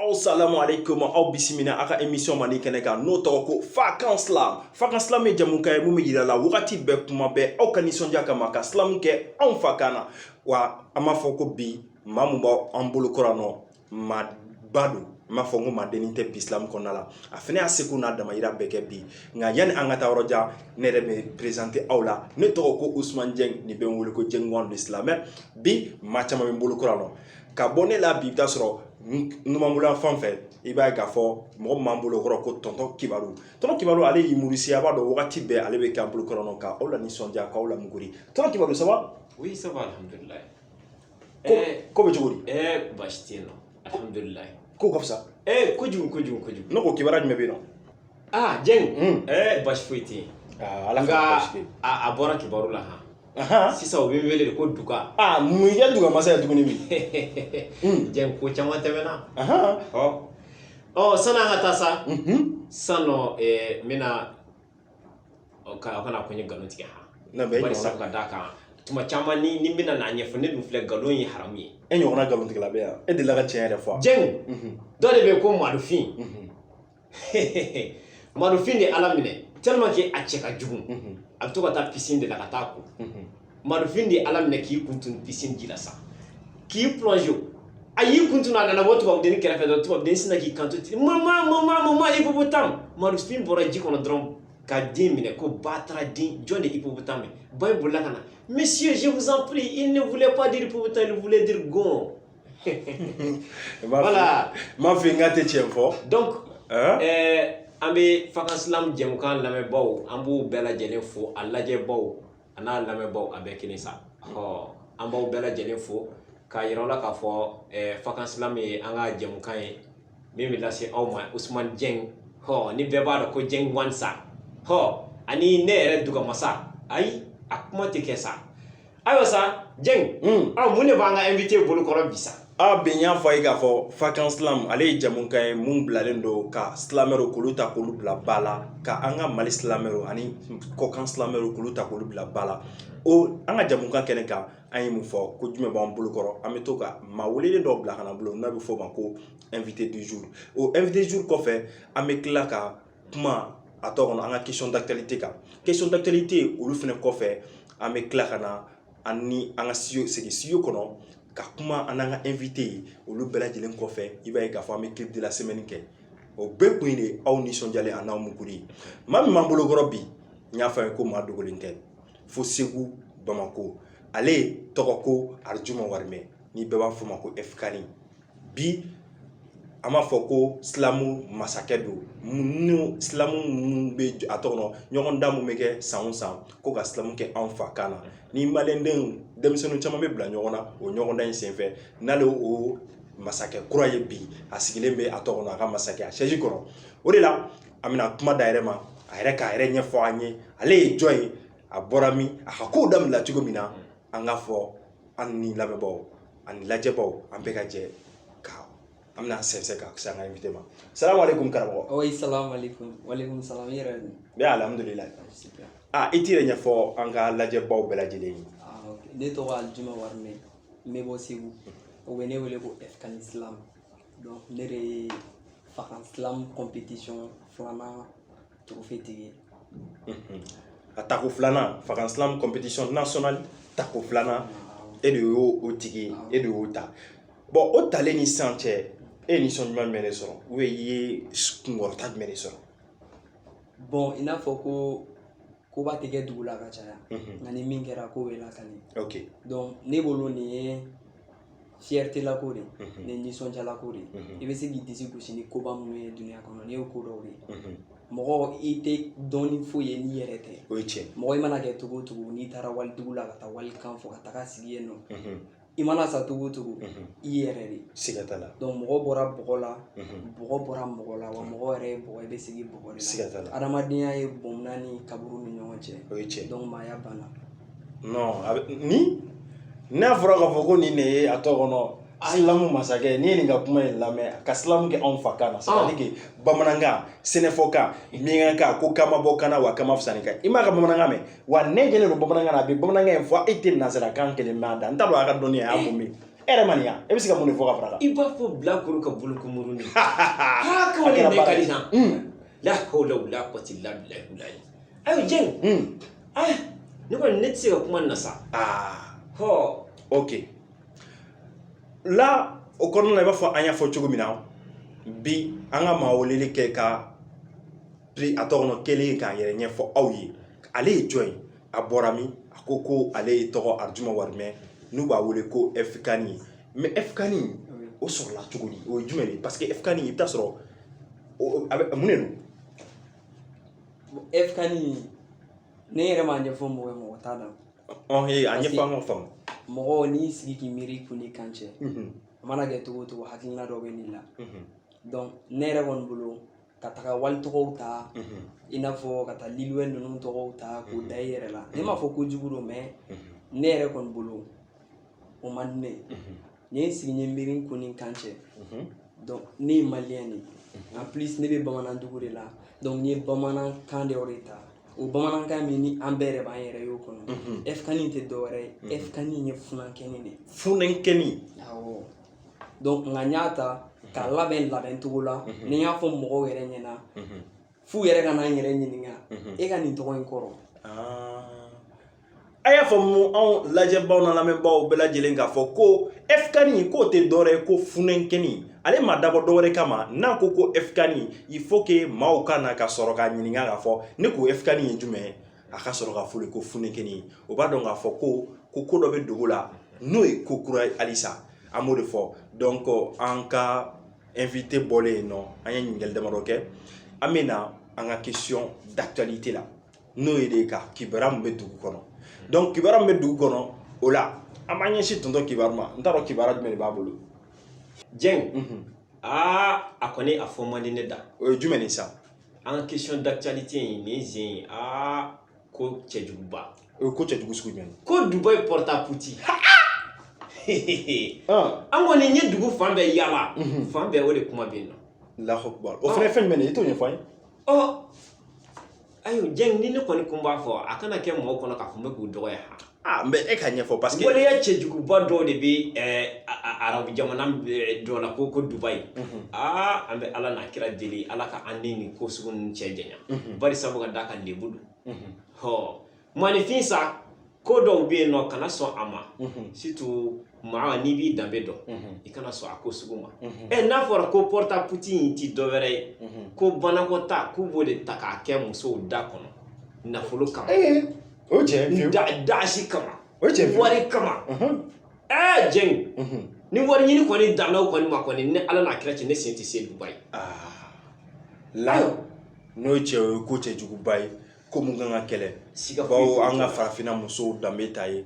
aw salamu aleykum aw bisimila aw ka emisiyɔn mandi kɛnɛ kan n'o tɔgɔ ko fa kan silam fa kan silam ye jamukan ye mun bɛ yira la wagati bɛɛ kuma bɛɛ aw ka nisɔndiya kama ka silamu kɛ anw fa kan na wa an b'a fɔ ko bi maa mun b'an bolo kɔrɔ nɔ maa ba don n b'a fɔ n ko maa dennin tɛ bi silamu kɔnɔna la a fana y'a seko n'a damayira bɛɛ kɛ bi nka yanni an ka taa yɔrɔ jan ne yɛrɛ bɛ perezante aw la ne tɔgɔ ko usumani jɛng n'u bɛ n wele ko jɛng wan de silamɛ bi maa caman bɛ n bolo kɔrɔ nɔ ka bɔ ne la bi i bi taa sɔrɔ numanbolo fan fɛ i b'a ye k'a fɔ mɔgɔ min b'an bolo kɔrɔ ko tɔntɔn kibaru tɔntɔn kibaru ale ye humoriste a b'a dɔn wagati bɛɛ ale bɛ k'an bolo kɔrɔ nɔ ka aw la nisɔndiya k'aw la muguri tɔntɔn kibaru ça va oui ça va alhamdulilayi ko eh, ko bɛ cogo di ɛɛ eh, baasi tɛ yen nɔ alhamdulilayi ko ka fisa ɛɛ eh, kojugu kojugu kojugu ne ko kibaruya jumɛn bɛ yen nɔ aa jeng ɛɛ basi foyi tɛ yen ala ka basi tɛ a bɔra kibaru la han sisan u bɛ n wele de ko duga aa mun i ye duga masa ye tuguni bi jeng ko caman tɛmɛna ɔ ɔ san'an ka taa sa san nɔ n bɛna ka aw kana ko n ye nkalon tigɛ han bari sabu ka d'a kan tuma caman ni ni n bɛna n'a ɲɛfɔ ne dun filɛ nkalon ye haramu ye e ɲɔgɔnna nkalontigɛla bɛ yan e delila ka tiɲɛ yɛrɛ fɔ wa jeng dɔ de bɛ yen ko madofin madofin de ala minɛ tellement que a cɛ ka jugu a bɛ to ka taa piscine de la ka taa ko madofin de ala minɛ k'i kun tunu piscine ji la sa k'i plonge a y'i kun tunu a nana bɔ tubabudenni kɛrɛfɛ dɔrɔn tubabudenni sina k'i kanto ten mama mama mama hippopotame madofin bɔra ji kɔnɔ dɔrɔn ka den minɛ ko bataraden jɔn de hippopotame ba in bolila ka na monsieur je vous en prie il ne voulait pas dire hippopotame il voulait dire gon voilà m'a fɔ n k'a tɛ tiɲɛ fɔ donc ɛɛ eh, an bɛ fakansilam jɛmukan lamɛnbaaw an b'u bɛɛ lajɛlen fo a lajɛbaw a n'a lamɛnbaaw a bɛɛ kelen sa ɔ an b'aw bɛɛ lajɛlen fo k'a yira aw la k'a fɔ ɛɛ eh, fakansilam ye an ka jɛmukan ye min bɛ lase aw ma usumani jɛng hɔ ni bɛɛ b'a dɔn ko jɛng wan sa hɔ ani ne yɛrɛ dugamasa ayi a kuma tɛ kɛ sa ayiwa sa jeng mm. aw mun de b'an ka invité bolo kɔrɔ bi sa a bi n y'a fɔ a ye k'a fɔ fakan silam ale ye jamukan ye mun bilalen don ka silamɛruw k'olu ta k'olu bila ba la ka an ka mali silamɛruw ani kɔkan silamɛruw k'olu ta k'olu bila ba la o an ka jamukan kɛnɛ kan an ye mun fɔ ko jumɛn b'an bolo kɔrɔ an bɛ to ka maa welelen dɔw bila ka na bolo n'a bɛ fɔ o ma ko invité du jour o invité du jour kɔfɛ an bɛ tila ka kuma a tɔ kɔnɔ an ka question d'actualité kan question d'actualité olu fana kɔfɛ an bɛ tila ka na an ni an ka studio segin studio kɔnɔ ka kuma an n'an ka invité ye olu bɛɛ lajɛlen kɔfɛ i b'a ye k'a fɔ an bɛ clip de la semaine kɛ o bɛɛ kun ye de aw nisɔndiyalen a n'aw muguri ye maa min b'an bolo kɔrɔ bi n y'a fɔ a ye ko maa dogolen tɛ fo segu bamako ale tɔgɔ ko arijuma warimɛ ni bɛɛ b'a fɔ ma ko fkani bi an b'a fɔ ko silamu masakɛ don silamu minnu bɛ a tɔgɔ dɔn ɲɔgɔndan min bɛ kɛ san o san ko ka silamu kɛ anw fa kan na ni maliyɛndenw denmisɛnnin caman bɛ bila ɲɔgɔn na o ɲɔgɔndan in senfɛ n'ale o masakɛ kura ye bi a sigilen bɛ a tɔgɔ a ka masakɛ a sɛsi kɔrɔ o de la an bɛna kuma d'a yɛrɛ ma a yɛrɛ k'a yɛrɛ ɲɛfɔ an ye ale ye jɔn ye a bɔra min a ka kow daminɛ cogo min na an k'a fɔ an ni lamɛnbaaw ani lajɛbaaw an bɛɛ ka jɛ ka an bɛna sɛnsɛn ka se an ka invité ma salamu aleykum karamɔgɔ oui salamu aleykum waleykum salam i yɛrɛ dun bɛ alhamdulila a i t'i yɛrɛ ɲɛfɔ an ka lajɛbaaw bɛɛ lajɛlen ye ne tɔgɔ alijuma warimɛ n bɛ bɔ segu u bɛ ne wele ko ɛfikani slam donc ne de ye fakan slam compétition filanan tigi a tako filanan fakan slam compétition nationale tako filanan e de y'o tigi ye e de y'o ta bɔn o talen ni sisan cɛ e ye nisɔn ɲuman jumɛn de sɔrɔ e ye kunkɔrɔta jumɛn de sɔrɔ bɔn i n'a fɔ ko koba tɛ kɛ dugu la ka caya nka ni min kɛra k'o bɛ lakali donc ne bolo nin ye fierté lako de ni nisɔndiyalako de i bɛ se k'i disi gosi ni koba minnu ye dunya kɔnɔ nin y'o ko dɔw ye mɔgɔ i tɛ dɔɔnin foyi ye n'i yɛrɛ tɛ o ye tiɲɛ mɔgɔ i mana kɛ cogo o cogo n'i taara walidugu la ka taa walikan fɔ ka taga sigi yen nɔ i mana sa cogo o cogo i yɛrɛ de siga t'a la donc mɔgɔ bɔra bɔgɔ la bɔgɔ bɔra mɔgɔ la wa mɔgɔ yɛrɛ ye bɔgɔ i bɛ segin bɔgɔ de la siga t'a la adamadenya ye bɔnna ni kaburu ni ɲɔgɔn cɛ o ye tiɲɛ donc maaya banna non ni n'a fɔra k'a fɔ ko nin de ye a tɔ kɔnɔ silamu masakɛ n'i ye nin ka kuma in lamɛn ka silamu kɛ anw fa kan na c'est-à-dire que bamanankan sɛnɛfɔkan miɲankakan ko kan ma bɔ kan na wa kan ma fisa ni kan i m'a ka bamanankan mɛn wa ne jɛlen don bamanankan na a bɛ bamanankan in fɔ e tɛ nanzarakan kelen mɛn a da n t'a dɔn a ka dɔnni a y'a mun min e yɛrɛ man nin yan e bɛ se ka mun de fɔ ka fara a kan i b'a fɔ bilakoro ka bolokomurunin haa k'o de bɛ ka di sa la hawla wala quwwata illa billah ayo jeng ah ne kɔni ne tɛ se ka kuma nin na sa aa hɔ ok la o kɔnɔna na i b'a fɔ an y'a fɔ cogo min na bi an ka maa welelen kɛ ka prix a tɔgɔ nɔ kelen k'a yɛrɛ ɲɛfɔ aw ye ale ye jɔn ye a bɔra min a ko ko ale ye tɔgɔ arijuma warimɛ n'u b'a wele ko ɛfikani ye mais ɛfikani o sɔrɔla cogo di o ye jumɛn de ye parce que ɛfikani i bɛ taa sɔrɔ o- o- a bɛ mun de don ɛfikani ne yɛrɛ m'a ɲɛfɔ mɔgɔ ye mɔgɔ t'a dɔn ɔn ye a ɲɛfɔ an ka faamu mɔgɔ n'i sigi k'i miiri kun ni kan cɛ a mana kɛ cogo o cogo hakilina dɔ bɛ n'i la donc ne yɛrɛ kɔni bolo ka taga walitɔgɔw ta i n'a fɔ ka taa Lil Wayne ninnu tɔgɔw ta k'o da i yɛrɛ la ne m'a fɔ kojugu don mais ne yɛrɛ kɔni bolo o man di ne ye N ye n sigi n ye miiri kun ni kan cɛ donc ne ye maliyɛn de ye en plus ne bɛ bamanandugu de la donc n ye bamanankan dɔ de ta o bamanankan min ni an bɛɛ yɛrɛ b'an yɛrɛ y'o kɔnɔ ɛfkani tɛ dɔwɛrɛ ye ɛfkani ye funankɛni de ye funankɛni awɔ donc nka n y'a ta k'a labɛn labɛn cogo la ni n y'a fɔ mɔgɔw yɛrɛ ɲɛna f'u yɛrɛ ka na n yɛrɛ ɲininka e ka nin tɔgɔ in kɔrɔ a y'a faamu anw lajɛbaw n'an lamɛnbaaw bɛɛ lajɛlen k'a fɔ ko ɛfukani k'o tɛ dɔwɛrɛ ye ko funankɛni ale ma dabɔ dɔwɛrɛ kama n'a ko ko ɛfukani il faut que maaw ka na ka sɔrɔ k'a ɲininka k'a fɔ ne ko ɛfukani ye jumɛn ye a ka sɔrɔ ka fɔli ko funankɛni o b'a dɔn k'a fɔ ko ko ko dɔ bɛ dogo la n'o ye ko kura ye halisa an b'o de fɔ donc an ka invité bɔlen yen nɔ an ye ɲininkali damadɔ kɛ an bɛ na an ka question d'actualité la n'o ye de ka kibaruya min bɛ dugu kɔnɔ donc kibaruya min bɛ dugu kɔnɔ o la an b'an ɲɛsin tonton kibaru ma n t'a dɔn kibaruya jumɛn de b'a bolo jɛn aa a kɔni a fɔ man di ne da o ye jumɛn de sa an ka question d'actualité in nin sen in aa ko cɛjuguba o ye ko cɛjugu sugu jumɛn ko dubayi porta potty an kɔni n ye dugu fan bɛɛ yaala fan bɛɛ o de kuma bɛ yen nɔ Allahu Akbar o fana ye fɛn jumɛn de ye i t'o ɲɛfɔ an ye Ayiwa jɛn ni ne kɔni tun b'a fɔ a kana kɛ mɔgɔw kɔnɔ k'a fɔ n bɛ k'u dɔgɔya n bɛ e ka ɲɛfɔ parce que waleya cɛjuguba dɔw de bɛ arabu jamana dɔ la ko ko dubayi aa an bɛ ala n'a kira deli ala k'an ni nin ko sugu cɛ janya bari sabu ka d'a kan lebu don hɔ Mɔgɔninfin sa ko dɔw bɛ yen nɔ kana sɔn a ma surtout maa n'i b'i danbe dɔn i kana sɔn a ko sugu ma ɛ n'a fɔra ko porta potty in tɛ dɔwɛrɛ ye ko banakɔtaa k'u b'o de ta k'a kɛ musow da kɔnɔ nafolo kama o dasi kama o wari kama ɛ jɛn ni wari ɲini kɔni danna o kɔni ma kɔni ni ala n'a kira cɛ ne sen tɛ se dubayi la n'o cɛ o ye ko cɛjuguba ye ko mun kan ka kɛlɛ siga bawo an ka farafinna musow danbe t'a ye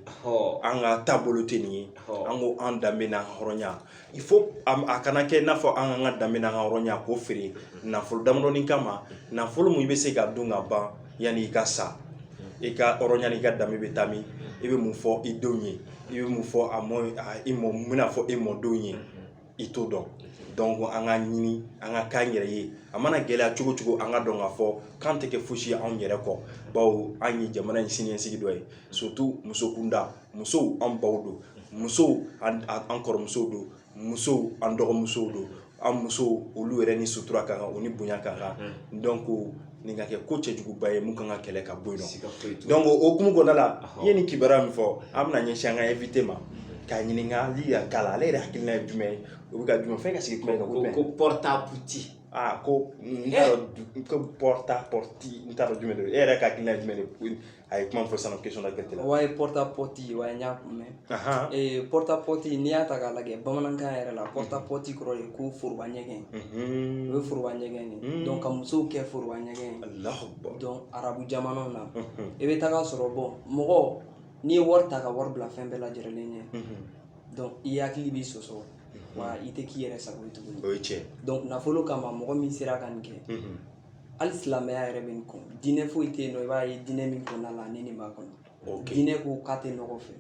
an ka taabolo tɛ nin ye an ko an danbe n'an ka hɔrɔnya il faut a kana kɛ i n'a fɔ an k'an ka danbe n'an ka hɔrɔnya k'o feere nafolo damadɔni kama nafolo mun i bɛ se ka dun ka ban yanni i ka sa i ka hɔrɔnya n'i ka danbe bɛ taa min i bɛ mun fɔ i denw ye i bɛ mun fɔ a mɔ i mɔ n bɛna fɔ i mɔdenw ye i t'o dɔn donc an ka ɲini an ka k'an yɛrɛ ye a mana gɛlɛya cogo cogo an ka dɔn k'a fɔ k'an tɛ kɛ fosi ye anw yɛrɛ kɔ bawo an ye jamana in siniɲɛsigi dɔ ye surtout musokunda musow an baw don musow an kɔrɔmusow don musow an dɔgɔmusow don an musow olu yɛrɛ ni sutura ka kan u ni bonya ka kan donc nin ka kɛ ko cɛjuguba ye mun kan ka kɛlɛ ka bɔ yen nɔ donc o hukumu kɔnɔna la i ye nin kibaruya min fɔ an bɛna ɲɛsin an ka invité ma ka ɲininkali yɛrɛ k'a la ale yɛrɛ hakilina ye jumɛn ye o bɛ ka jumɛn fɛn ka sigi kuma in kan ko jumɛn ko porte à porte aa ko n t'a dɔn ko porta potty n t'a dɔn jumɛn don e yɛrɛ ka hakilina ye jumɛn ye a ye kuma fɔ sisan question d'actualité la o ye porta potty wa n y'a mɛn Ahan. ee porta potty n'i y'a ta k'a lajɛ bamanankan yɛrɛ la porta potty kɔrɔ ye ko foroba ɲɛgɛn o Mhm. ye foroba ɲɛgɛn de ye donc ka musow kɛ foroba ɲɛgɛn ye Allahu akbar. donc arabu jamanaw na Mhm. i bɛ taga sɔrɔ bɔn mɔgɔ n'i ye wari ta ka wari bila fɛn bɛɛ lajɛrɛlen ɲɛ Mhm. donc i hakili b'i sɔsɔ wa i tɛ k'i yɛrɛ sago ye tuguni O ye tiɲɛ. donc nafolo kama mɔgɔ min sera ka nin kɛ Mhm. hali silamɛya yɛrɛ bɛ nin kɔn diinɛ foyi tɛ yen nɔ i b'a ye diinɛ min kɔnɔna la ani nin b'a kɔnɔ diinɛ ko k'a tɛ nɔgɔ fɛ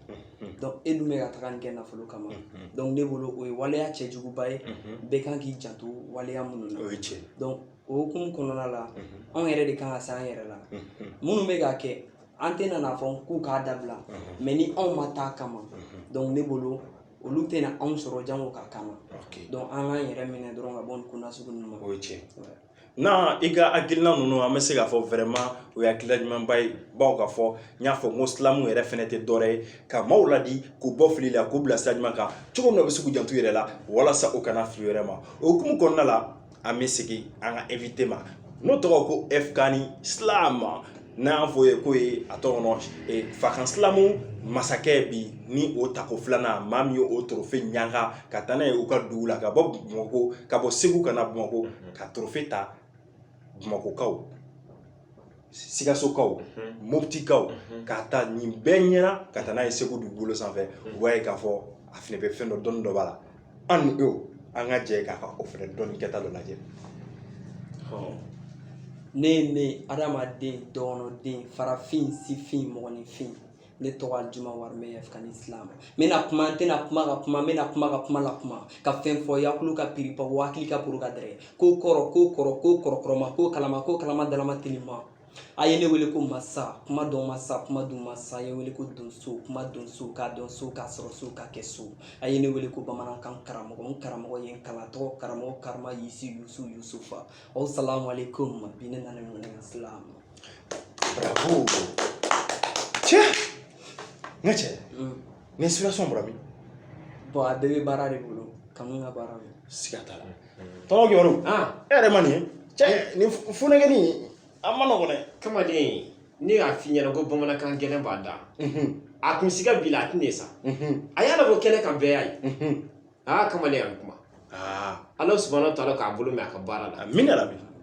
e dun bɛ ka taga nin kɛ nafolo kama ne bolo o ye waleya cɛjuguba ye bɛɛ kan k'i janto waleya minnu na o ye tiɲɛ o hokumu kɔnɔna la anw yɛrɛ de kan ka se an yɛrɛ la minnu bɛ k'a kɛ an tɛna n'a fɔ k'u k'a dabila mais ni anw ma taa kama ne bolo olu tɛna anw sɔrɔ jango ka kama an k'an yɛrɛ minɛ dɔrɔn ka bɔ nin ko nasugu ninnu ma o ye tiɲɛ Na i ka hakilina ninnu an bɛ se k'a fɔ vraiment o ye hakilila ɲumanba ye baw k'a fɔ n y'a fɔ n ko slam yɛrɛ fɛnɛ tɛ dɔwɛrɛ ye ka maaw ladi k'u bɔ fili la k'u bila sira ɲuman kan cogo min na u bɛ se k'u janto u yɛrɛ la walasa u kana fili u yɛrɛ ma o hukumu kɔnɔna la an bɛ segin an ka invité ma n'o tɔgɔ ko F-Kani Slam n'a y'a fɔ i ye k'o ye a tɔgɔ kɔnɔ ee fakan slam masakɛ bi ni o tako filanan maa min ye o trophée ɲanga ka taa n'a ye u ka dugu la ka bɔ bamakɔ ka bɔ segu ka na bamakɔ ka trophée ta bamakɔkaw sikasokaw moptikaw k'a ta nin bɛɛ ɲɛna ka taa n'a ye segu dugukolo sanfɛ u b'a ye k'a fɔ a fɛnɛ bɛ fɛn dɔ dɔnni dɔ b'a la an ni e an ka jɛ k'a ka o fɛnɛ dɔnni kɛta dɔ lajɛ ne ye ne adamaden dɔgɔnɔden farafin sifin mɔgɔninfin ne tɔgɔ Alijuma Warimɛ F-Kani Slam n bɛna kuma n tɛna kuma ka kuma n bɛna kuma ka kuma la kuma ka fɛn fɔ yakulu ka piripa hakili ka poro ka dɛrɛ ko kɔrɔ ko kɔrɔ ko kɔrɔkɔrɔma ko kalama ko kalama dalama telima a ye ne wele ko masa kuma dɔn masa kuma dun masa a ye wele ko donso kuma dɔn so k'a dɔn so k'a sɔrɔ so k'a kɛ so a ye ne wele ko bamanankan karamɔgɔ n karamɔgɔ ye n kalan tɔgɔ karamɔgɔ karama yisi yusu yusufa asalamu aleykum bi ne nana ɲɔgɔn na slam bravo cɛ n ka cɛ nin inspiration bɔra min bon a bɛɛ bɛ baara de bolo kanu ka baara don siga t'a la tɔɔrɔ kibaru e yɛrɛ ma nin ye cɛ nin funakɛni a ma nɔgɔn dɛ kamalen ne y'a f'i ɲɛna ko bamanankan gɛlɛn b'a da a kun siga bi la a tɛna sa a y'a labɔ kɛnɛ kan bɛɛ y'a ye aa kamalen a bɛ kuma ala subahana taala k'a bolo mɛn a ka baara la amiina yarabi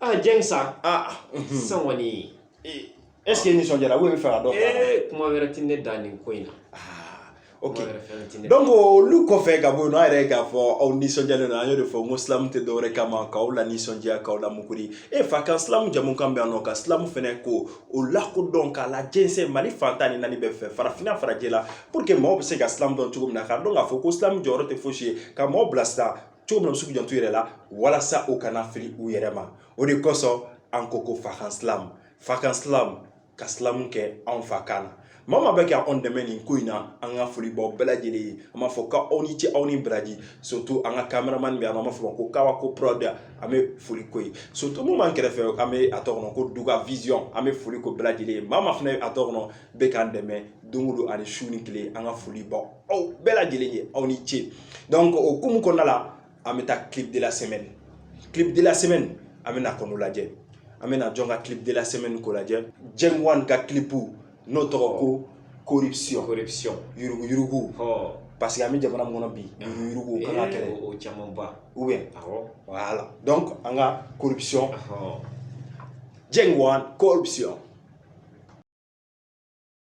Aa jɛn sa aa sisan kɔni est-ce que i nisɔndiyara ou i b'a fɛ ka dɔ fɔ kuma wɛrɛ tɛ ne da nin ko in na ok donc olu kɔfɛ ka bɔ yen nɔ an yɛrɛ k'a fɔ aw nisɔndiyalen don an y'o de fɔ n ko silamu tɛ dɔwɛrɛ kama k'aw lanisɔndiya k'aw la mukuri e fakan silamu jamukan bɛ yan nɔ ka silamu fɛnɛ ko o lakodɔn k'a lajɛnsɛn mali fan tan ni naani bɛɛ fɛ farafinna farajɛ la pour que maaw bɛ se ka silamu dɔn cogo min na k'a dɔn k'a fɔ ko silamu jɔyɔrɔ tɛ fosi ye ka maaw bilasira cogo min na u bɛ se k'u janto u yɛrɛ la walasa u kana fili u yɛrɛ ma o de kosɔn an ko ko fakan silamu fakan silamu ka silamu kɛ anw fakan na maa o maa bɛ ka anw dɛmɛ nin ko in na an ka foli b'aw bɛɛ lajɛlen ye an b'a fɔ k'aw ni ce aw ni baraji surtout an ka kameramani bɛ yan an b'a fɔ a ma ko kawa ko prod an bɛ foli k'o ye surtout min b'an kɛrɛfɛ an bɛ a tɔ kɔnɔ ko duga vision an bɛ foli k'o bɛɛ lajɛlen ye maa o maa fana a tɔ kɔnɔ bɛ k'an dɛmɛ don o don ani su ni tile an ka foli b'aw aw bɛɛ lajɛlen ye aw ni ce donc o hukumu kɔnɔna la an bɛ taa clip de la semaine clip de la semaine an bɛna kɔnɔ lajɛ an bɛna jɔn ka clip de la semaine ko lajɛ jeng wan ka clip n'o tɔgɔ ko corruption corruption yuruguyurugu parce que an bɛ jamana min kɔnɔ bi yuruguyurugu o kan ka kɛlɛ o camanba ou bien voilà donc an ka corruption jeng wan corruption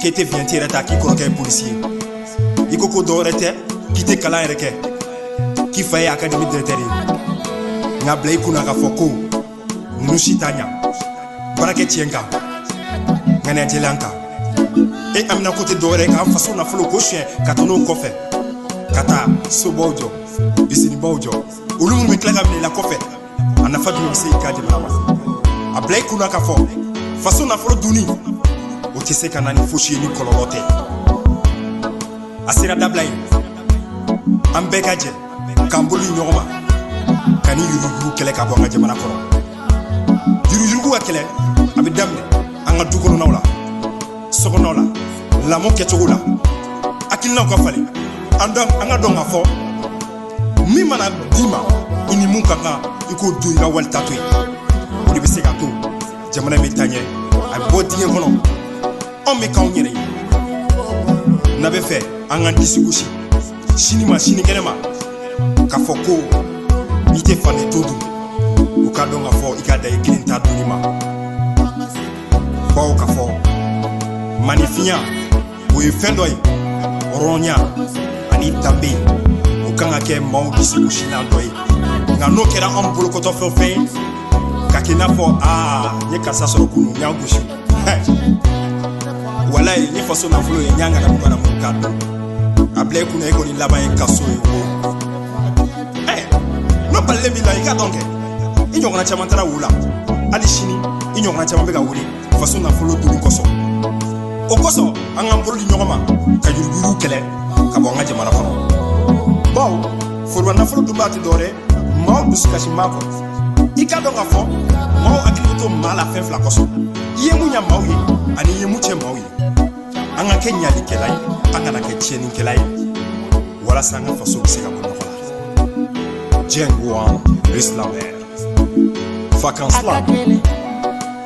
k'e tɛ viɲɛti yɛrɛ ta k'i kɔrɔkɛ ye polisi ye i ko ko dɔwɛrɛ tɛ k'i tɛ kalan yɛrɛ kɛ k'i fa ye akademi dirɛkitɛri ye nka a bila i kunna k'a fɔ ko ninnu si t'a ɲa baara kɛ tiɲɛ kan ŋaniya jɛlen kan e haminanko tɛ dɔwɛrɛ ye k'an faso nafolo kɔ siyɛn ka to n'o kɔfɛ ka taa sobaw jɔ izinibaw jɔ olu minnu bɛ tila ka minɛ i la kɔfɛ a nafa jumɛn bɛ se i ka jamana ma a bila i kun na k'a fɔ faso nafolo dunni o tɛ se ka na ni fosi ye ni kɔlɔlɔ tɛ a sera dabila ye an bɛɛ ka jɛ k'an bolo di ɲɔgɔn ma ka nin yuruguyurugu kɛlɛ ka bɔ an ka jamana kɔnɔ yuruguyurugu ka kɛlɛ a bɛ daminɛ an ka dukɔnɔnaw la sokɔnɔw la lamɔ kɛcogo la hakilinaw ka falen an k'a dɔn k'a fɔ min mana d'i ma i ni min ka kan i k'o dun i ka wali ta to yen o de bɛ se ka to jamana bɛ taa ɲɛ a bɛ bɔ dingɛ kɔnɔ anw bɛ k'anw yɛrɛ ye n'an b'a fɛ an ka disi gosi sini ma sinikɛnɛ ma k'a fɔ ko i tɛ fani to dun u k'a dɔn k'a fɔ i ka dan i kelen ta dunni ma bawo k'a fɔ manifinya o ye fɛn dɔ ye hɔrɔnya ani danbe o kan ka kɛ maaw disigosilan dɔ ye nka n'o kɛra an bolokɔfɛfɛn ye ka kɛ i n'a fɔ aa n ye karisa sɔrɔ kunu n y'a gosi walayi ni faso nafolo ye n y'a ŋanamu ŋanamu k'a dun a bila i kunna i kɔni laban ye kaso ye ko n'o balilen b'i la i ka dɔn kɛ i ɲɔgɔnna caman taara o la hali sini i ɲɔgɔnna caman bɛ ka wuli faso nafolo duni kosɔn o kosɔn an k'an bolo di ɲɔgɔn ma ka yuruguyurugu kɛlɛ ka bɔ an ka jamana kɔnɔ bawo foroba nafolo dunbaa tɛ dɔwɛrɛ maaw dusukasi maa kɔ i k'a dɔn k'a fɔ maaw hakili bɛ to maa la fɛn fila kosɔn i ye mun ɲa maaw ye ani i ye mun tiɲɛ maaw ye an ka kɛ ɲalikɛla ye an kana kɛ tiɲɛnikɛla ye walasa an ka faso bɛ se ka bɔ nɔgɔ la diɲɛ ko an bɛ silamɛ fakan silamɛ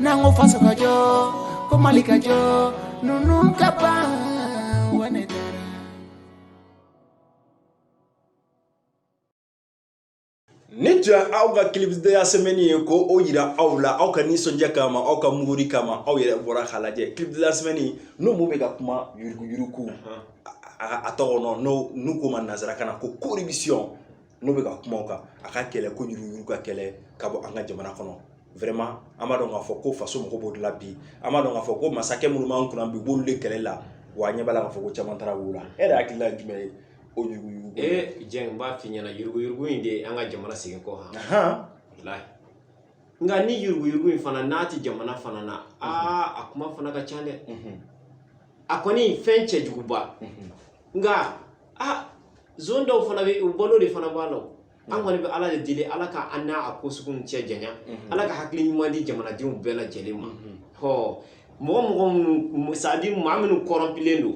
n'an ko faso ka jɔ ko Mali ka jɔ ninnu ka ban Ni tun ye aw ka clip de la semaine ye ko o jira aw la aw ka nisɔndiya kama aw ka muguri kama aw yɛrɛ bɔra k'a lajɛ clip de la semaine n'o mun bɛ ka kuma yuruguyurugu a tɔgɔ n'o n'u k'o ma nansarakan na ko corruption n'o bɛ ka kuma o kan a ka kɛlɛ ko yuruguyurugu ka kɛlɛ ka bɔ an ka jamana kɔnɔ vraiment an b'a dɔn k'a fɔ ko faso mɔgɔ b'o de la bi an b'a dɔn k'a fɔ ko masakɛ minnu b'an kunna bi u b'olu de kɛlɛ la wa an ɲɛ b'a la k'a fɔ ko caman taara o la e yɛrɛ hakilila ye jumɛn ye o yuruguyurugu ee jan n b'a f'i ɲɛna yuruguyurugu in de an ka jamana segin kɔ hɔn nka ni yuruguyurugu in fana n'a tɛ jamana fana na aa a kuma fana ka ca dɛ a kɔni fɛn cɛjuguba nka aa zone dɔw fana bɛ u balo de fana b'a la o. an kɔni bɛ ala de deli ala ka an n'a a ko suguw cɛ janya ala ka hakili ɲuman di jamanadenw bɛɛ lajɛlen ma hɔ mɔgɔ mɔgɔ minnu c'est-à-dire maa minnu kɔrɔnpilen don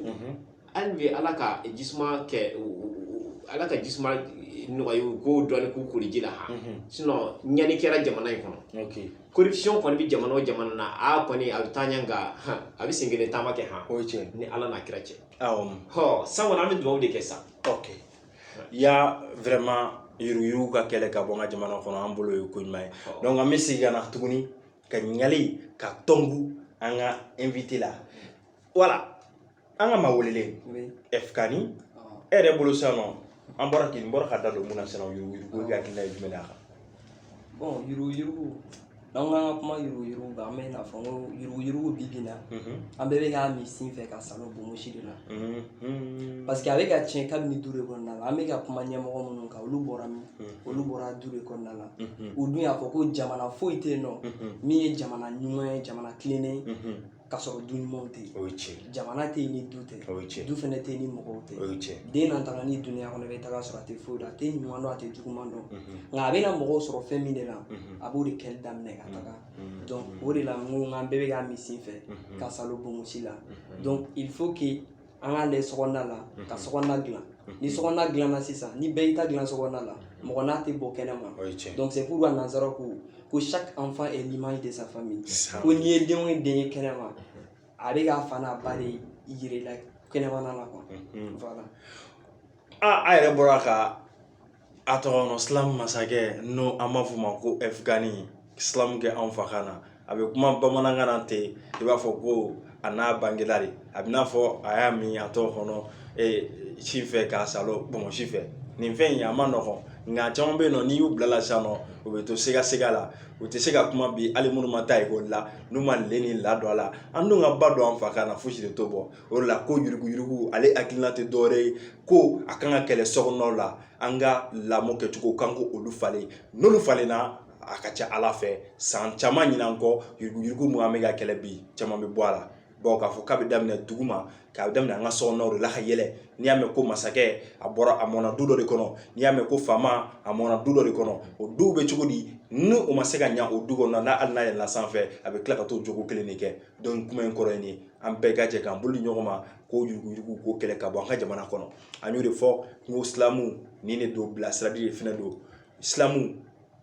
hali bi ala ka jisuma kɛ u- u- u- ala ka jisuma nɔgɔya u k'o dɔɔni k'u kori ji la ha sinon ɲani kɛra jamana in kɔnɔ ok corruption kɔni bɛ jamana o jamana na a kɔni a bɛ taa ɲɛ nka han, a bɛ sen kelen taama kɛ han o ye tiɲɛ ni ala n'a kira cɛ awɔ hɔ san kɔni an bɛ dugawu de kɛ sa ok ya vraiment yuruguyurugu ka kɛlɛ ka bɔ n ka jamana kɔnɔ an bolo ye ko ɲuman ye Awɔ. donc an bɛ segin ka na tuguni ka ɲininkali kɛ tugun an ka invité la voilà an ka maa welelen Oui. F-Kani Ah. e yɛrɛ bolo sisan nɔ an bɔra k'i n bɔra ka da don mun na sisan nɔ yuruguyurugu ka hakilina ye jumɛn de y'a kan bon yuruguyurugu n'an k'an ka kuma yuruguyurugu kan an bɛ n'a fɔ ko yuruguyurugu bi bi na an bɛɛ bɛ k'a min sin fɛ ka salon bomosi de la parce que a bɛ ka tiɲɛ kabini du de kɔnɔna la an bɛ ka kuma ɲɛmɔgɔ minnu kan olu bɔra min olu bɔra du de kɔnɔna la u dun y'a fɔ ko jamana foyi tɛ yen nɔ min ye jamana ɲuman ye jamana tilennen ka sɔrɔ du ɲumanw tɛ yen o ye tiɲɛ ye jamana tɛ yen ni du tɛ o ye tiɲɛ ye du fana tɛ yen ni mɔgɔw tɛ o ye tiɲɛ ye den na taga ni duniya kɔnɔ i bɛ taga sɔrɔ a tɛ foyi dɔn a tɛ ɲuman dɔn a tɛ juguman dɔn nka a bɛna mɔgɔw sɔrɔ fɛn min de la a b'o de kɛli daminɛ ka taga donc o de la n ko n k'an bɛɛ bɛ k'a min sin fɛ k'a saalo bonbonsi la donc il faut que an k'a lajɛ sokɔnɔna la ka sokɔnɔna dilan ni sokɔnɔna dilanna sisan ni bɛɛ y'i ta dilan sokɔnɔna la mɔgɔ n'a tɛ bɔ kɛnɛma donc c'est pourquoi nansara ko ko chaque enfant est l'image de sa famille ko n'i ye den o den ye kɛnɛma a bɛ k'a fa n'a ba de yir'i la kɛnɛmana la quoi voilà a a yɛrɛ bɔra ka A tɔgɔ nɔ slam masakɛ n'o an b'a f'o ma ko ɛfuganni slam kɛ anw fa kan na a bɛ kuma bamanankan na ten i b'a fɔ ko a n'a bangela de a bɛ n'a fɔ a y'a min a tɔgɔ kɔnɔ sin fɛ k'a saalo bonbonsi fɛ nin fɛn in a ma nɔgɔn nka caman bɛ yen nɔ n'i y'u bil'a la sa nɔ u bɛ to sigasiga la u tɛ se ka kuma bi hali minnu ma taa ekɔli la n'u ma le ni la don a la an dun ka ba don an fa kan na fosi de t'o bɔ o de la ko yuruguyurugu ale hakilina tɛ dɔwɛrɛ ye ko a kan ka kɛlɛ sokɔnɔnaw la an ka lamɔ kɛcogo kan ko olu falen n'olu falenna a ka ca ala fɛ san caman ɲinan kɔ yuruguyurugu min an bɛ ka kɛlɛ bi caman bɛ bɔ a la bawo k'a fɔ k'a bɛ daminɛ dugu ma k'a daminɛ an ka sokɔnɔnaw de la ka yɛlɛ n'i y'a mɛn ko masakɛ a bɔra a mɔna du dɔ de kɔnɔ n'i y'a mɛn ko faama a mɔna du dɔ de kɔnɔ o duw bɛ cogo di ni o ma se ka ɲa o du kɔnɔ n'a hali n'a yɛlɛla sanfɛ a bɛ tila ka t'o jogo kelen de kɛ donc kuma in kɔrɔ ye an bɛɛ ka jɛ k'an bolo di ɲɔgɔn ma ko yuruguyurugu ko kɛlɛ ka bɔ an ka jamana kɔnɔ an y'o de fɔ n ko slam nin de don bilasirali de fana don slam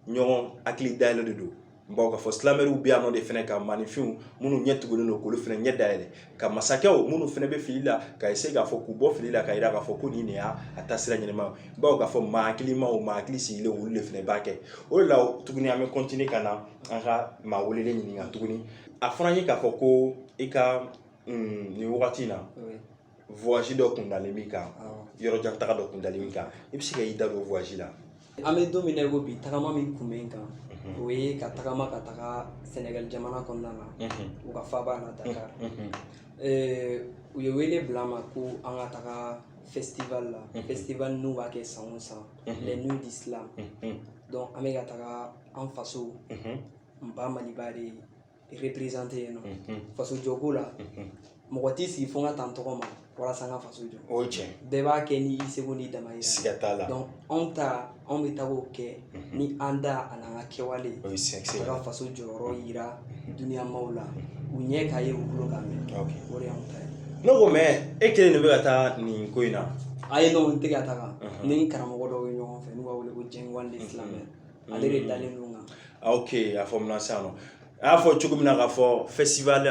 ɲɔgɔn hakili dayɛlɛ de don bawo k'a fɔ slameurw bɛ yan nɔ de fana ka maaninfinw minnu ɲɛ tugulen don k'olu fana ɲɛ dayɛlɛ ka masakɛw minnu fana bɛ fili la ka essayer k'a fɔ k'u bɔ fili la ka yira k'a fɔ ko nin de y'a taasira ɲɛnama bawo k'a fɔ maa hakilimaw maa hakili sigilen olu de fana b'a kɛ o de la tuguni an bɛ continuer ka na an ka maa welelen ɲininka tuguni a fɔra n ye k'a fɔ ko i ka mm, nin wagati in na voyage dɔ kun dalen b'i kan yɔrɔ jan taga dɔ kun dalen b'i kan i bɛ se ka i da don voyage la an bɛ don min na i ko bi tagama min kun bɛ n kan o ye ka tagama ka taga sénégal jamana kɔnɔna na u ka faaba na dakar u ye wele bila n ma ko an ka taga festival la festival n'u b'a kɛ san o san les nuits du slam donc an bɛ ka taga an faso n ba maliba de représenter yen nɔ faso jɔko la mɔgɔ t'i sigi fo n ka taa n tɔgɔ ma walasa n ka faso jɔ o ye tiɲɛ bɛɛ b'a kɛ ni i seko n'i damayira siga t'a la donc anw ta anw bɛ taga o kɛ ni an da an'an ka kɛwalew ye sɛgɛsɛ ka faso jɔyɔrɔ yira duniya maaw la u ɲɛ k'a ye u tulo k'a mɛn o de y'anw ta ye ne ko mais e kelen de bɛ ka taa nin ko in na ayi n'o tɛ ka taga ni karamɔgɔ dɔw ye ɲɔgɔn fɛ n'u b'a wele ko jɛngwande slam ale de dalen don kan ah, ok a faamuna sisan nɔ a y'a fɔ cogo min na k'a fɔ festival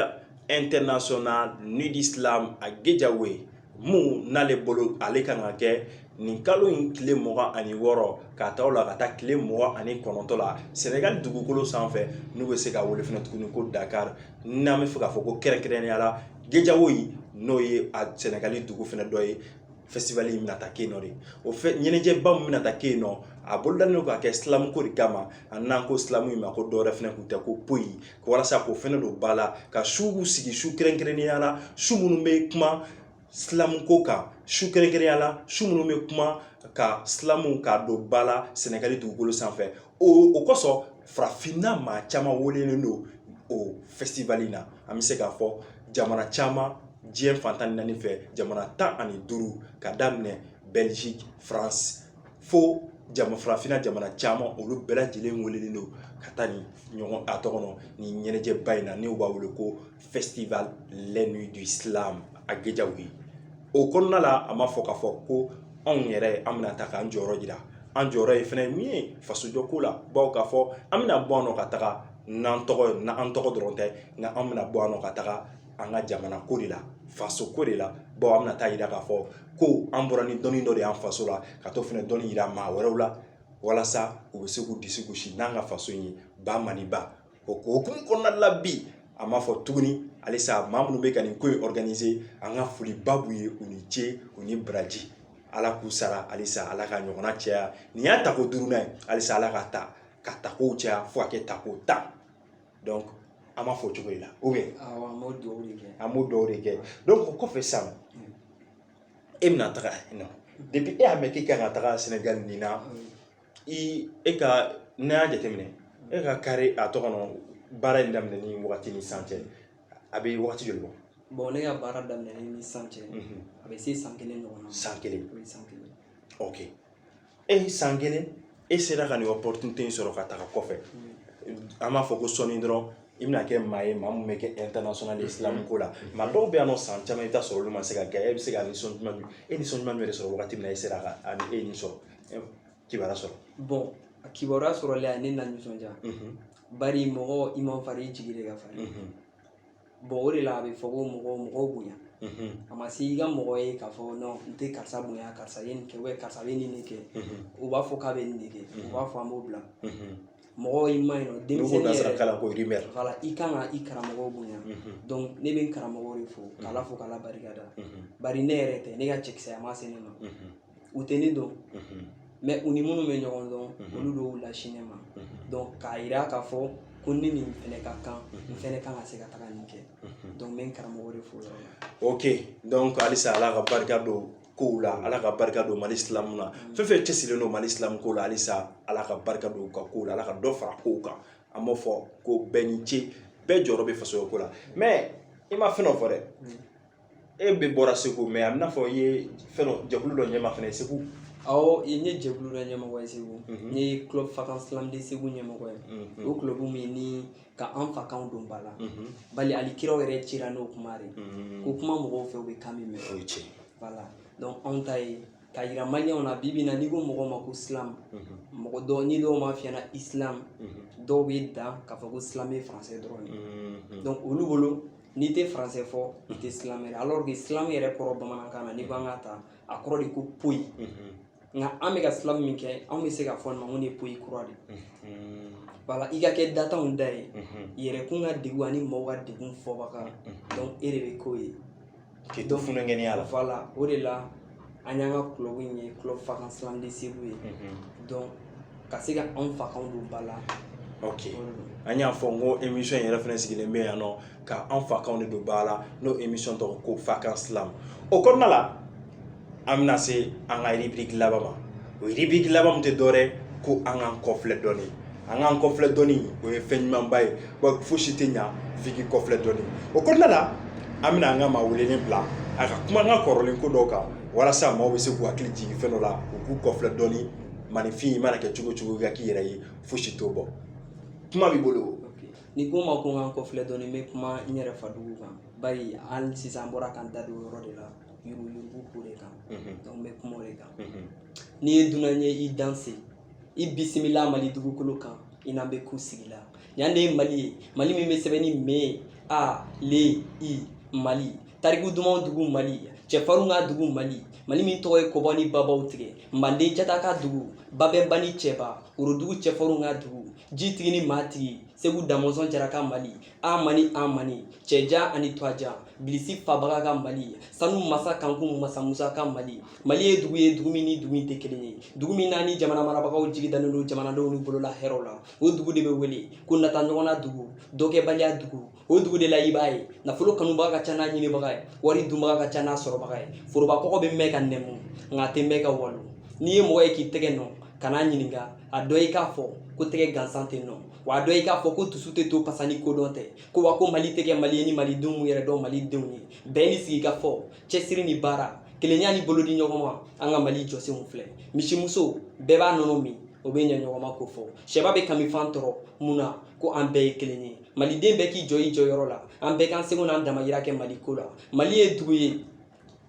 international nuit du slam à guédiawaye min n'ale bolo ale kan ka kɛ nin kalo in tile mugan ani wɔɔrɔ ka taa o la ka taa tile mugan ani kɔnɔntɔ la sɛnɛgali dugukolo sanfɛ n'u bɛ se k'a wele fana tuguni ko dakar n'an bɛ fɛ k'a fɔ ko kɛrɛnkɛrɛnnenya la guédiawaye n'o ye a sɛnɛgali dugu fana dɔ ye festival in bɛna taa kɛ yen nɔ de o fɛ ɲɛnajɛba min bɛna taa kɛ yen nɔ a bolodalen don ka kɛ silamuko de kama a n'an ko silamu in ma ko dɔwɛrɛ fana tun tɛ ko poyi walasa k'o fɛnɛ don ba la ka suw sigi su kɛrɛnkɛrɛnnenya la su minnu bɛ kuma silamuko kan su kɛrɛnkɛrɛnnenya la su minnu bɛ kuma ka silamu k'a don ba la sɛnɛgali dugukolo sanfɛ o o kosɔn farafinna maa caman welelen don o festival in na an bɛ se k'a fɔ jamana caman diɲɛ fan tan ni naani fɛ jamana tan ani duuru ka daminɛ belgique france fo jama farafinna jamana caman olu bɛɛ lajɛlen welelen don ka taa nin ɲɔgɔn a tɔgɔ nɔ nin ɲɛnajɛba in na n'u b'a wele ko festival les nuits du slam à guédiawaye o kɔnɔna la an b'a fɔ k'a fɔ ko anw yɛrɛ an bɛna taa k'an jɔyɔrɔ jira an jɔyɔrɔ ye fɛn min ye fasojɔko la bawo k'a fɔ an bɛna bɔ yan nɔ ka taga n'an tɔgɔ ye n'an tɔgɔ dɔrɔn tɛ nka an bɛna bɔ yan nɔ ka taga an ka jamana ko de la faso ko de la bawo an bɛna taa yira k'a fɔ ko an bɔra ni dɔnni dɔ de y'an faso la ka t'o fɛnɛ dɔnni yira maa wɛrɛw la walasa u bɛ se k'u disi gosi n'an ka faso in ye ba maliba o hukumu kɔnɔna la bi an b'a fɔ tuguni halisa maa minnu bɛ ka nin ko in organiser an ka foliba b'u ye u ni ce u ni baraji ala k'u sara halisa ala ka ɲɔgɔnna caya nin y'a tako duurunan ye halisa ala ka ta ka takow caya fo ka kɛ tako tan donc an b'a fɔ cogo de la ou bien an b'o dugawu de kɛ an b'o dugawu de kɛ donc o kɔfɛ sisan e bɛna taga nɔ depuis e y'a mɛn k'i kan ka taga sɛnɛgali nin na e ka n'i y'a jateminɛ e ka kari a tɔgɔ baara in daminɛ ni waati ni sisan cɛ a bɛ waati joli bɔ bon ne ka baara daminɛ ni sisan cɛ a bɛ se san kelen ɲɔgɔn san kelen san kelen ok e ni san kelen e sera ka nin opportunité in sɔrɔ ka taga kɔfɛ an b'a fɔ ko sɔɔni dɔrɔn i bɛna kɛ maa ye maa min bɛ kɛ international slam ko la maa dɔw bɛ yan nɔ san caman i bɛ taa sɔrɔ olu ma se k'a kɛ e bɛ se ka nisɔn jumɛn e nisɔn jumɛn bɛ sɔrɔ wagati min na e sera ka ani e nin sɔrɔ kibaruya sɔrɔ bon a kibaruya sɔrɔli a ne na nisɔndiya bari mɔgɔ i man fari i jigi de ka fari bon o de la a bɛ fɔ ko mɔgɔ mɔgɔ bonya a ma se i ka mɔgɔ ye k'a fɔ non n tɛ karisa bonya karisa ye nin kɛ ou bien karisa bɛ nin de kɛ u b'a fɔ k'a bɛ nin de kɛ u b'a fɔ an b'o bila mɔgɔ i ma ɲi nɔ denmisɛnnin yɛrɛ kalan ko rimɛri voilà i kan ka i karamɔgɔw bonya donc ne bɛ n karamɔgɔw de fo k'ala fo k'ala barika da bari ne yɛrɛ tɛ ne ka cɛkisɛya ma se ne ma u tɛ ne dɔn mais u ni minnu bɛ ɲɔgɔn dɔn olu de y'u lase ne ma donc k'a yira k'a fɔ ko ne nin fɛnɛ ka kan n fɛnɛ kan ka se ka taga nin kɛ donc n bɛ n karamɔgɔ de fo yɔrɔ la ok donc halisa ala ka barika don kow la ala ka barika don mali slam na fɛn fɛn cɛsirilen don mali slam ko la halisa ala ka barika don u ka kow la ala ka dɔ fara kow kan an b'o fɔ ko bɛɛ ni ce bɛɛ jɔyɔrɔ bɛ fasojɔko la mais i ma fɛn dɔ fɔ dɛ e bɛ bɔra segu mais a bɛ n'a fɔ i ye fɛn dɔ jɛkulu dɔ ɲɛma fana segu awɔ n ye jɛkulu dɔ ɲɛmɔgɔ ye segu n ye club fakan slam de segu ɲɛmɔgɔ ye o club min ni ka an fakanw don ba la bari hali kiraw yɛrɛ cira n'o kuma de ko kuma mɔgɔw fɛ u bɛ kan min mɛn o ye tiɲɛ voilà donc anw ta ye k'a yira maliyɛnw na bi bi na n'i ko mɔgɔ ma ko slam mɔgɔ dɔw ni dɔw b'a f'i ɲɛna islam dɔw bɛ dan k'a fɔ ko slam ye français dɔrɔn de donc olu bolo n'i tɛ français fɔ i tɛ slameur ye alors que slam yɛrɛ kɔrɔ bamanankan na n'i ko an k'a ta a kɔrɔ de ko poyi nka an bɛ ka slam min kɛ anw bɛ se ka fɔ nin ma ko nin ye poyi kura de ye voilà i ka kɛ datanw da ye yɛrɛkun ka degun ani mɔgɔw ka degun fɔbaga donc e de bɛ k'o ye K'i to funukɛniya la voilà o de la an y'an ka club in ye club fakan slam de segu ye donc ka se ka anw fakanw don ba la ok an y'a fɔ n ko émission yɛrɛ fana sigilen bɛ yan nɔ ka an fakanw de don ba la n'o émission tɔgɔ ko fakan slam o kɔnɔna la an bɛna se an ka rubrique laban ma o rubrique laban min tɛ dɔwɛrɛ ko an k'an kɔfilɛ dɔɔni an k'an kɔfilɛ dɔɔni o ye fɛn ɲumanba ye wa fosi tɛ ɲa f'i k'i kɔfilɛ dɔɔni o kɔnɔna la an bɛna an ka maa welelen bila a ka kuma an ka kɔrɔlen ko dɔw kan walasa maaw bɛ se k'u hakili jigin fɛn dɔ la u k'u kɔfilɛ dɔɔni maninfin i mana kɛ cogo cogo i ka k'i yɛrɛ ye fosi t'o bɔ kuma b'i bolo n'i ko n ma ko n ka n kɔfilɛ dɔɔni n bɛ kuma n yɛrɛ fadugu kan bari hali sisan n bɔra ka n da don o yɔrɔ de la yurugu ko de kan n bɛ kuma o de kan n'i ye dunan ye i danse i bisimila mali dugukolo kan i n'an bɛ ku sigi la yan de ye mali ye mali min bɛ sɛbɛn ni m a l i mali tariku dumanw dugu mali cɛfarinw ka dugu mali mali min tɔgɔ ye kɔba ni babaw tigɛ manden jata ka dugu babɛnba ni cɛba worodugu cɛfarinw ka dugu jitigi ni maatigi segu damɔnzɔn jara ka mali an mani an mani cɛjan ani tɔjan bilisi fabaga ka mali sanu masa kankun masa musa ka mali mali ye dugu ye dugu min ni dugu tɛ kelen ye dugu min na ni jamana marabagaw jigi dannen don jamanadenw ni bolola hɛrɛw la o dugu de bɛ wele ko nata ɲɔgɔnna dugu dɔkɛbaliya dugu o dugu de la i b'a ye nafolo kanubaga ka ca n'a ɲinibaga ye wari dunbaga ka ca n'a sɔrɔbaga ye foroba kɔgɔ bɛ mɛn ka nɛmu nka a tɛ mɛn ka walo n'i ye mɔgɔ ye k'i tɛgɛ nɔn kan'a ɲininka a dɔn i k'a fɔ ko tɛgɛ gansan tɛ nɔn wa a dɔn i k'a fɔ ko dusu tɛ to pasa ni kodɔn tɛ ko wa ko mali tɛ kɛ mali ye ni malidenw m'u yɛrɛ dɔn malidenw ye bɛn ni sigi ka fɔ cɛsiri ni baara kelenya ni bolo di ɲɔgɔn ma an ka mali jɔsenw filɛ misimuso bɛɛ b'a nɔnɔ min o bɛ ɲɛ ɲɔgɔn ma ko fɔ sɛba bɛ kamifan tɔrɔ mun na ko an bɛɛ ye kelen ye maliden bɛɛ k'i jɔ i jɔyɔrɔ la an bɛɛ k'an seko n'an damayira kɛ mali ko la mali ye dugu ye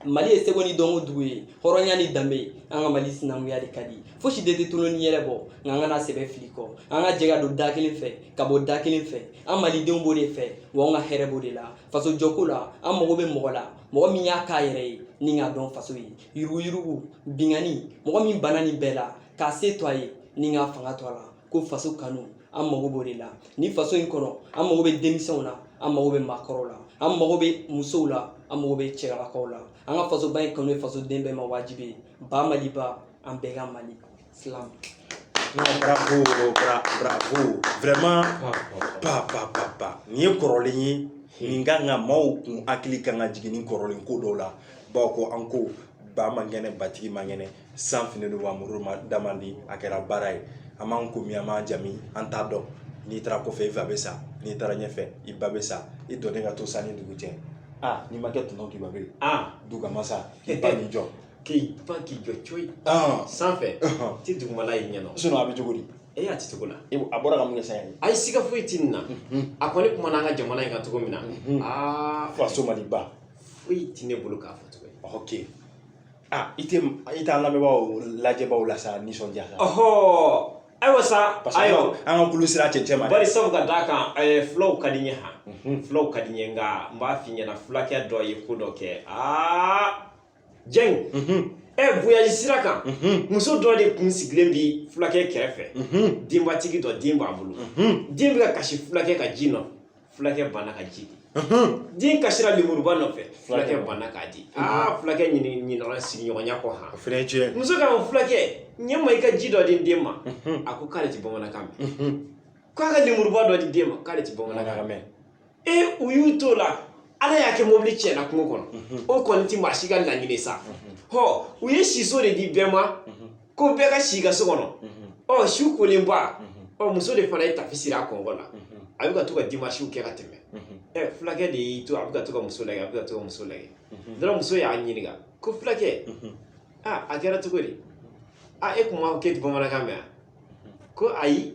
mali ye seko ni dɔnko dugu ye hɔrɔnya ni danbe an ka mali sinankunya de ka di fosi de tɛ tolon ni yɛlɛ bɔ nka an kana sɛbɛ fili kɔ an ka jɛ ka don da kelen fɛ ka bɔ da kelen fɛ an malidenw b'o de fɛ wa an ka hɛrɛ b'o de la faso jɔko la an mago bɛ mɔgɔ la mɔgɔ min y'a k'a yɛrɛ ye ni k'a dɔn faso ye yuruguyurugu binkanni mɔgɔ min bana nin bɛɛ la k'a se to a ye ni k'a fanga to a la ko faso kanu an mago b'o de la ni faso in kɔnɔ an mago bɛ denmisɛnw na an mago bɛ maakɔrɔw la an mago bɛ musow la an mago bɛ cɛlakaw la an ka fasoba in kanu ye fasoden bɛɛ ma wajibi ye ba maliba an bɛɛ ka mali silam bravo bravo vraiment pa pa pa pa nin ye kɔrɔlen ye nin ka nka maaw kun hakili kan ka jigin ni kɔrɔlen ko dɔw la bawo ko an ko ba man kɛnɛ batigi man kɛnɛ san finnen don wa muru ma da man di a kɛra baara ye an b'an kɔ min an b'an ɲa min an t'a dɔn n'i taara kɔfɛ i fa bɛ sa n'i taara ɲɛfɛ i ba bɛ sa i dulonnen ka to san ni dugu cɛ aa n'i ma kɛ tɔnɔ k'i ba bɛ aa duguma sa k'i ba n'i jɔ k'i pan k'i jɔ coyi sanfɛ ti dugumala y'i ɲɛna sinɔn a bɛ cogo di e y'a ti cogo la a bɔra ka mun kɛ sa ye ayi siga foyi ti nin na a kɔni kumana an ka jamana in kan cogo min na aa faso maliba foyi ti ne bolo k'a fɔ cogo ye ok I tɛ i t'an lamɛnbagaw lajɛbagaw la sa nisɔndiya ɔɔ ayiwa sa ayiwa an ka kulun sira cɛncɛn ma bari sabu ka d'a kan fulaw ka di n ye han fulaw ka di n ye nka n b'a f'i ɲɛna fulakɛ dɔ ye ko dɔ kɛ aa jɛnku ɛ voyage sira kan muso dɔ de kun sigilen bi fulakɛ kɛrɛfɛ denbatigi dɔ den b'a bolo den bɛ ka kasi fulakɛ ka ji nɔ fulakɛ banna ka ji di den kasira lemuruba nɔfɛ fulakɛ banna k'a di aa fulakɛ ɲinana sigiɲɔgɔnya kɔ han fɛnɛ tiɲɛ muso k'a ma fulakɛ ɲɛ n ma i ka ji dɔ di den ma a ko k'ale ti bamanankan mɛn k'a ka lemuruba dɔ di den ma k'ale ti bamanankan mɛn ee u y'u t'o la ala y'a kɛ mobili tiɲɛna kungo kɔnɔ o kɔni ti maa si ka laɲini sa hɔ u ye siso de di bɛɛ ma ko bɛɛ ka si a ka so kɔnɔ ɔ su kolenba a ɔ muso de fana ye tafe siri a kɔgɔ la a bɛ ka to ka dimasiw kɛ ka tɛmɛ ɛ fulakɛ de y'i to a bɛ ka to ka muso lagɛ a bɛ ka to ka muso lagɛ dɔrɔn muso y'a ɲininka ko fulakɛ a a kɛra cogo di a e kun m'a fɔ k'e ti bamanankan mɛn a ko ayi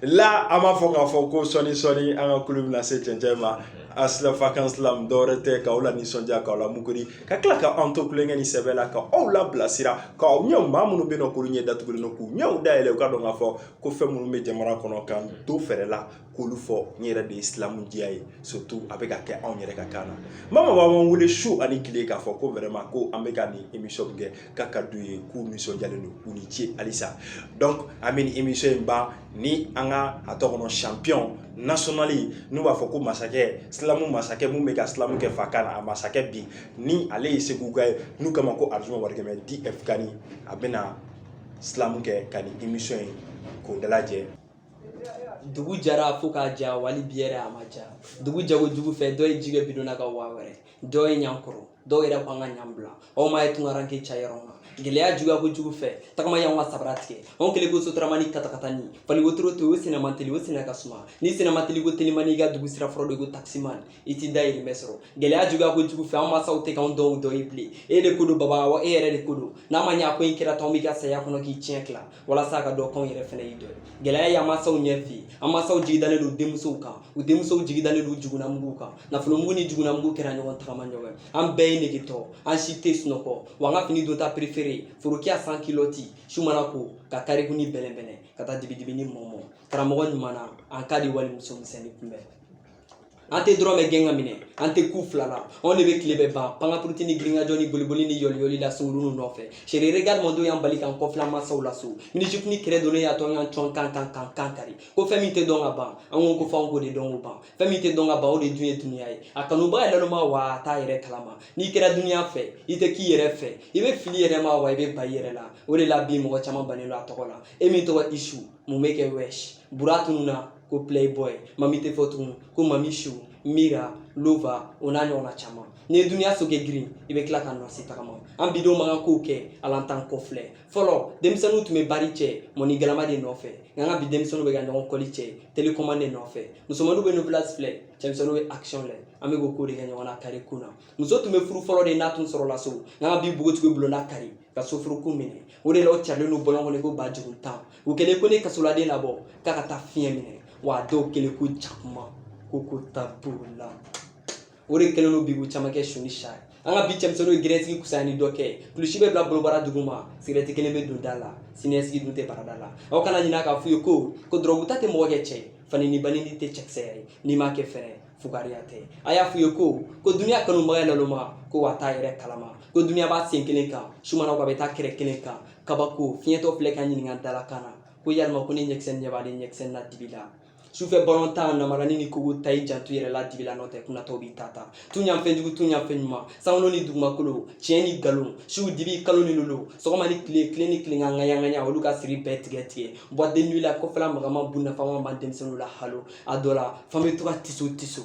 la an b'a fɔ k'a fɔ ko sɔɔni sɔɔni an ka kulu bɛna se cɛncɛn ma a si la fakan silamu dɔwɛrɛ tɛ k'aw lanisɔndiya k'aw la muguri ka tila ka an to tulonkɛ ni sɛbɛ la ka aw labilasira k'aw ɲɛw maa minnu bɛ nɔ k'olu ɲɛ datugulen don k'u ɲɛw dayɛlɛ u ka dɔn k'a fɔ ko fɛn minnu bɛ jamana kɔnɔ k'an to fɛrɛ la k'olu fɔ n yɛrɛ de ye silamu diya ye surtout a bɛ ka kɛ anw yɛrɛ ka kan na mama b'an wele su ani tile k'a fɔ ko vraiment ko an bɛ ka nin émission kɛ k'a ka d'u ye k'u nisɔndiyalen don u ni ce halisa donc an bɛ nin émission in ban ni an ka a tɔ kɔnɔ champion national n'u b'a fɔ ko masakɛ silamu masakɛ min bɛ ka silamu kɛ fakan na a masakɛ bi ni ale ye seguka ye n'u k'a ma ko arzuma warikɛmɛ df kani a bɛna silamu kɛ ka nin émission in k'o dalajɛ dugu jara fo k'a ja wali bi yɛrɛ a ma ja dugu ja kojugu fɛ dɔ ye ji kɛ bidon na ka waa wɛrɛ dɔw ye ɲan kɔrɔ dɔw yɛrɛ ko an ka ɲan bila aw ma ye tunkaranke cayɔrɔ ma gɛlɛya juguya kojugu fɛ tagama y'anw ka sabara tigɛ anw kɛlen ko sotaramani katakatani faliwotoro to o senna man teli o senna ka suma nin senna man teli ko telimani i ka dugu sira fɔlɔ de ko takisimani i t'i dayirimɛ sɔrɔ gɛlɛya juguya kojugu fɛ an masaw tɛ k'anw dɔn dɔ ye bilen e de ko don baba wa e yɛrɛ de ko don n'a ma ɲɛ ko in kɛra tan anw b'i ka saya kɔnɔ k'i tiɲɛ tila walasa a ka dɔn k'anw yɛrɛ fana y'i dɔ ye gɛlɛya y'an mansaw ɲɛ fiyɛn an mansaw jigidalen don denmusow kan u denmusow jigidalen don jugunamugu kan nafolomugu ni jugunamugu kɛra ɲɔgɔn tagamaɲɔgɔn an bɛɛ ye negetɔ an si tɛ sunɔgɔ wa an ka fini donta préféré forokiya sans culotte su mana ko ka kariku ni bɛlɛnbɛlɛn ka taa dibidibi ni mɔmɔ karamɔgɔ ɲuman na an ka di walimuso misɛnnin kunbɛn an tɛ dɔrɔmɛ gɛn k'a minɛ an tɛ ko fila la anw de bɛ tile bɛɛ ban pankapuruti ni girinkajɔ ni boliboli ni yɔliyɔli la sunguru nɔfɛ chéri regarde mon dos y'an bali k'an kɔfilɛ masaw la so minijupe ni kɛrɛ donnen y'a to an y'an cɔn kan kari ko fɛn min tɛ dɔn ka ban an ko f'anw k'o de dɔn k'o ban fɛn min tɛ dɔn ka ban o de dun ye dunuya ye a kanubaa ye naloma wa a t'a yɛrɛ kalama n'i kɛra dunuya fɛ i tɛ k'i yɛrɛ fɛ i bɛ fili i yɛrɛ ma wa i bɛ ban i yɛrɛ la o de la bi mɔgɔ caman bannen don a tɔgɔ la e min tɔgɔ isu mun bɛ kɛ wɛsi bura tununna ko playboy mami tɛ fɔ tugun ko mami chou mira lova o n'a ɲɔgɔnna caman n'i ye duniya sokɛ girin i bɛ tila ka nɔsi tagama an bidenw man kan kow kɛ ala an t'an kɔfilɛ fɔlɔ denmisɛnninw tun bɛ bari cɛ mɔni galama de nɔfɛ nka an ka bi denmisɛnninw bɛ ka ɲɔgɔn kɔli cɛ télécommande de nɔfɛ musomaninw bɛ novelas filɛ cɛmisɛnninw bɛ action lɛ an bɛ k'o ko de kɛ ɲɔgɔn na carré kun na muso tun bɛ furu fɔlɔ de n'a tun sɔrɔla so nka an ka bi npogotigiw bulonna kari ka sofuru ko minɛ o de la u carilen don bɔlɔn kɔnɔ ko ba juruntan u kɛlen ko n'i ye kasoladen labɔ k'a ka taa fiɲɛ minɛ wa a dɔw kɛlen ko jakuma ko ta b'o la o de kɛlen don bi ko caman kɛ su ni sa ye an ka bi cɛmisɛnninw ye gɛrɛsigi kusaya ni dɔ kɛ kulusi bɛ bila bobara duguma sigɛrɛti kelen bɛ don da la siniɲɛsigi dun tɛ barada la aw kana ɲinɛ k'a f'u ye ko ko dɔrɔguta tɛ mɔgɔ kɛ cɛ fa neni ba neni tɛ cɛkisɛya ye n'i ma kɛ fɛn ye fugariya tɛ a y'a f'u ye ko ko duniya kanubaga ye naloma ko wa t'a yɛrɛ kalama ko duniya b'a sen kelen kan sumana ko a bɛ taa kɛrɛ kelen kan kabako fiɲɛtɔ filɛ ka ɲininka dalakan na ko yalima ko ne ɲɛkisɛ ɲɛ b'ale ɲɛkisɛ na dibi la sufɛ balon tan namarani ni kogo ta i janto yɛrɛ la dibi la nɔ tɛ kunnatɔw b'i ta ta tun yan fɛn jugu tun yan fɛn ɲuman sankolo ni dugumakolo tiɲɛ ni nkalon siw dibi kalo ni lolo sɔgɔma ni tile tile ni tile ŋaɲaŋaɲa olu ka siri bɛɛ tigɛ tigɛ boîte de nuit la kɔfɛla magama bu nafama ma denmisɛnninw la halo a dɔ la f'an bɛ to ka tiso tiso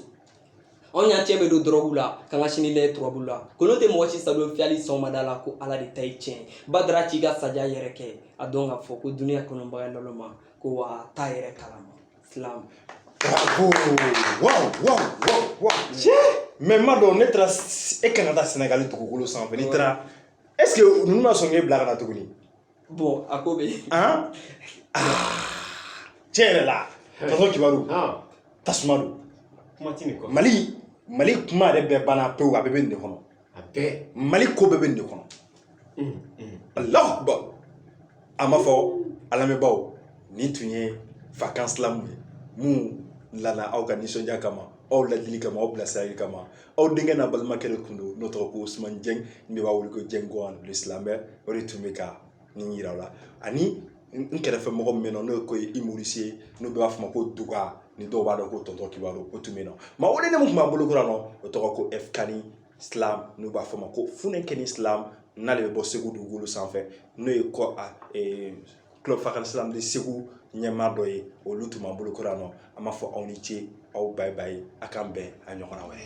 anw y'an cɛ bɛɛ don dɔrɔgu la k'an ka sini lɛ turabu la kolo tɛ mɔgɔ si sadon fiyali sɔgɔmada la ko ala de ta ye tiɲɛ badara k'i ka saja yɛrɛ kɛ a dɔn k'a fɔ ko duniya kanubaga naloma ko wa t'a yɛrɛ kalama slam Bravo! Wow, wow, wow, wow. Mais m'a dɔn n'e taara e kan ka taa Sénégal dugukolo sanfɛ n'i taara est-ce que ninnu ma sɔn k'e bila ka na tuguni bon a ko bɛ yen han tiɲɛ yɛrɛ la tɔntɔn kibaru tasuma don kuma tɛ nin kɔ mali mali kuma yɛrɛ bɛɛ banna pewu a bɛɛ bɛ nin de kɔnɔ a bɛɛ mali ko bɛɛ bɛ nin de kɔnɔ alahu akubar a ma fɔ a lamɛnbaaw nin tun ye fakan slam ye min nana aw ka nisɔndiya kama aw ladili kama aw bilasirali kama aw denkɛ n'aw balimakɛ de tun don n'o tɔgɔ ko usumani jɛng n'u b'a wele ko jɛng gɔn le slameur o de tun bɛ ka nin yira aw la ani n kɛrɛfɛ mɔgɔ min bɛ yan nɔ n'o ye ko imorisi ye n'u b'a fɔ ma ko duga ni dɔw b'a dɔn ko tɔntɔn kibaru o tun bɛ yan nɔ maa welelen min tun b'an bolo kɔrɔ yan nɔ o tɔgɔ ko ɛfkani slam n'u b'a fɔ ma ko funɛkɛni slam n'ale bɛ bɔ segu dugukolo sanfɛ n'o ye kɔ a club fakan slam de segu ɲɛmaa dɔ ye olu tun b'an bolo kɔrɔ yan nɔ an b'a fɔ aw ni ce aw bye bye a k'an bɛn a ɲɔgɔnna wɛrɛ